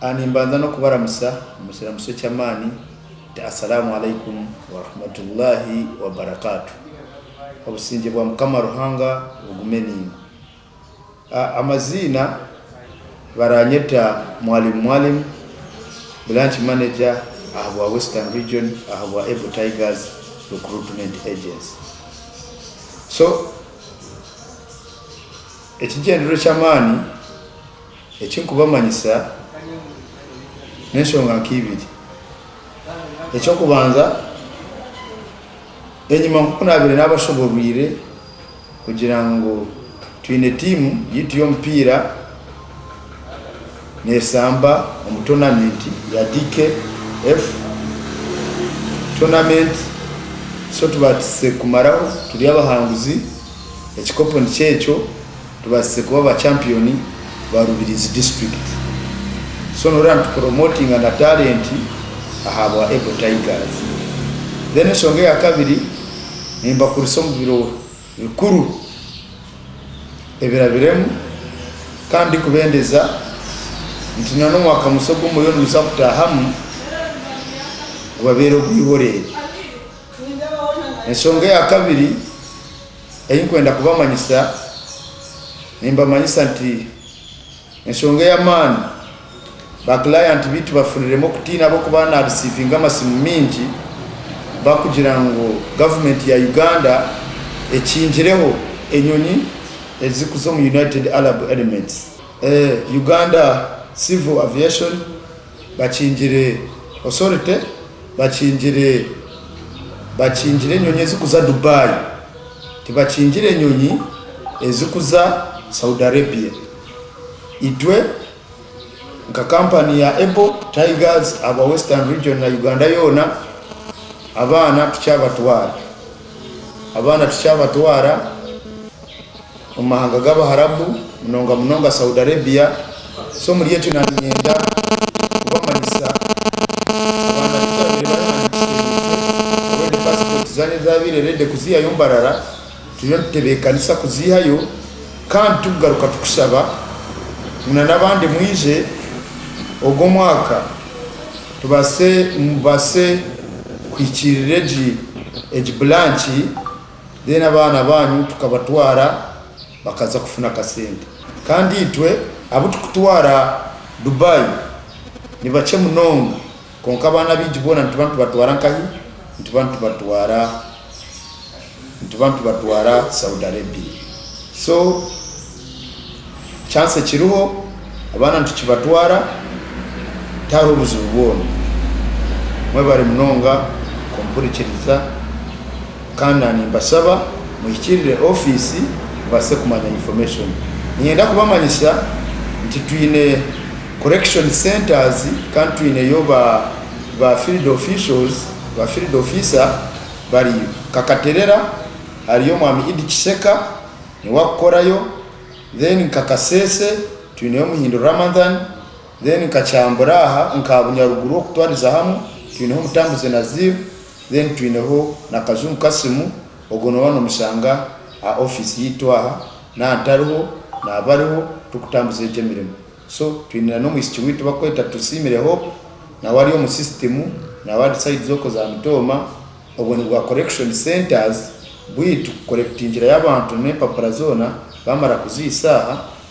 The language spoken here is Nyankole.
A Nimbanza n'okubaramusa omu kiramuso eky'amaani nti Assalamu Alaikum Warahmatullahi Wabarakatuh. Obusingye bwa Mukama Ruhanga bugume naimwe. Amaziina, Baranyeta Mwalimu Mwalimu, Branch Manager aha bwa Western Region aha bwa Able Tigers Recruitment Agency. So, ekigyendererwa eky'amaani eki nkubamanyisa n'enshonga nka ibiri. Eky'okubanza, enyima nk'oku naabaire naabashoboorweire, kugira ngu twine tiimu yaitu y'omupiira neeshamba omu toonamenti ya DKF Tournament so tubaasize kumaraho turi abahanguzi, ekikopo nikyo ekyo, tubaasize kuba ba champiyoni ba Rubirizi disiturikiti so nooreeba nitupuromotinga na taalenti ahabwa Able Tigers. Then eshonga eya kabiri. nimbakurisa omu biro bikuru ebirabiremu kandi ndikubendeza nti na n'omwaka musya ogu muriyo nimuza kutaahamu gubabeere ogw'iboreere. Enshonga eya kabiri ei ndikwenda kubamanyisa, nimbamanyisa nti, Enshonga ey'amaani, Baakirayanti baitu bafuniremu okutiina ahabw'okuba naarisiivinga amasimu maingi barikugira ngu Gavumenti ya Uganda ekingireho enyonyi ezirikuza omu United Arab Elements. Uganda Civil Aviation bakingire Authority bakingire bakingire enyonyi ezirikuza Dubai, tibakingire enyonyi ezirikuza Saudi Arabia. Itwe nka kampani ya Able Tigers aba Western Region na Uganda yoona, abaana tikyabatwara. Abaana tikyabatwara omu mahanga g'Abaharabu, munonga munonga Saudi Arabia. So omuri ekyo naanyenda kubamanyisa abaana abu twabaire barahandikise, nahabw'okuba passport zaabaire zaabaire ready kuzihayo Mbarara. Turiyo nitutebeekanisa kuziihayo kandi tikugaruka tukusaba ngu na n'abandi mwije ogu omwaka tubaase mubaase kuhikiirira egi egi bulanki then abaana baanyu tukabatwara bakaza kufuna akasente kandi itwe abu turikutwara Dubai nibakye munonga. Kwonka abaana abaingi boona nituba nitubatwara nkahi? Nituba nitubatwara nituba nitubatwara Saudi Arabia. So chance ekiriho abaana nitukibatwara tihariho buzibu bwona. Mwebare munonga kumpurikiriza. Kandi na nimbashaba muhikirire office mubase kumanya information. Ninyenda kubamanyisa nti twine correction centers kandi twineyo ba ba field officials, ba field officer bariyo. Nkakaterera hariyo mwami Idi Kisheka niwe akukorayo, then nka Kasese twineyo Muhindu Ramadhan, then nka Kyambura aha nka Bunyaruguru okutwariza hamu twineho Mutambuze Nazir, Then twineho na Kazungu Kasim, ogwo nooba nomushanga aha office yaitu aha, naaba ntariho naaba ariho turikutambuza egyo emirimo. So twine na nomwishiki waitu bakweta Tusiimire Hope, nawe ari omu system, nawe ari side zoko za Mutooma, obwo nibwa correction centers bwaitu kukorekitingirayo abantu nempapura zoona bamara kuziisa aha,